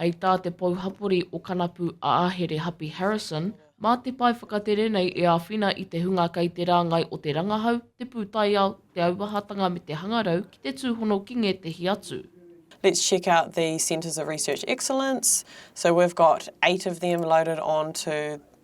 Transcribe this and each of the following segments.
Hei tā te pouhapori o Kanapu a Ahere Hapi Harrison, mā te pae whakatere nei e āwhina i te hunga kei te rāngai o te rangahau, te pūtaiao, te auahatanga me te hangarau ki te tūhono ki ngētehi atu. Let's check out the Centres of Research Excellence. So we've got eight of them loaded onto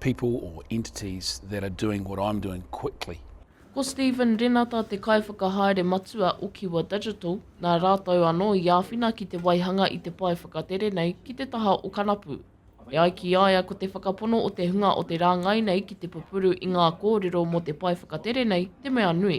people or entities that are doing what I'm doing quickly. Ko Stephen Renata te Kaiwhakahaere Matua o Kiwa Digital, nā rātou anō i āwhina ki te waihanga i te pae whakatere nei ki te taha o Kanapu. E ai ki a ia ko te whakapono o te hunga o te rāngai nei ki te pupuru i ngā kōrero mō te pae whakatere nei te mea nui.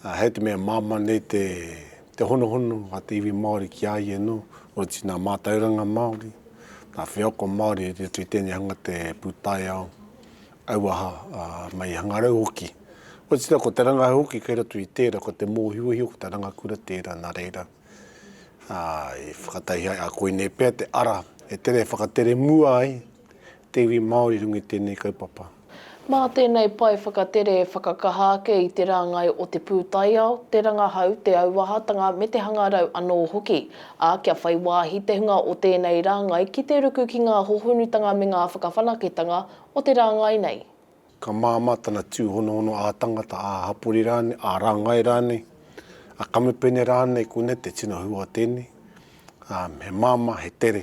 Ā, hei te mea māmā nei te, te honohono a te iwi Māori ki a ia anō, otirā nā mātauranga Māori, nā wheako Māori i roto i tēnei hanga te pūtaiao, auaha, ā, mai i hangarau hoki. Otirā ko te rangahau hoki kei roto i tērā, ko te mōhiohio, ko te rangakura tērā, nā reira, ā, i whakataihia ai, ā, koinei pea te ara e tere e whakatere mua ai, Te iwi Māori runga i tēnei kaupapa. Mā tēnei pae whakatere e whakakaha ake i te rāngai o te pūtaiao, te rangahau, te auahatanga me te hangarau anō hoki, ā, kia whai wāhi te hunga o tēnei rāngai ki te ruku ki ngā hohonutanga me ngā whakawhanaketanga o te rāngai nei. Ka māmā tana tūhonohono ā-tangata, ā-hapori rānei, ā-rāngai rānei, ā-kamupene rānei, koinei te tino hua o tēnei, ā, he māmā, he tere.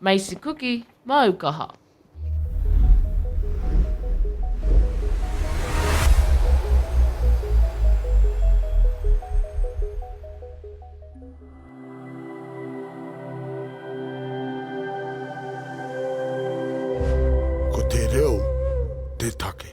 Macy Kuki, māu kaha. Ko te reo te take.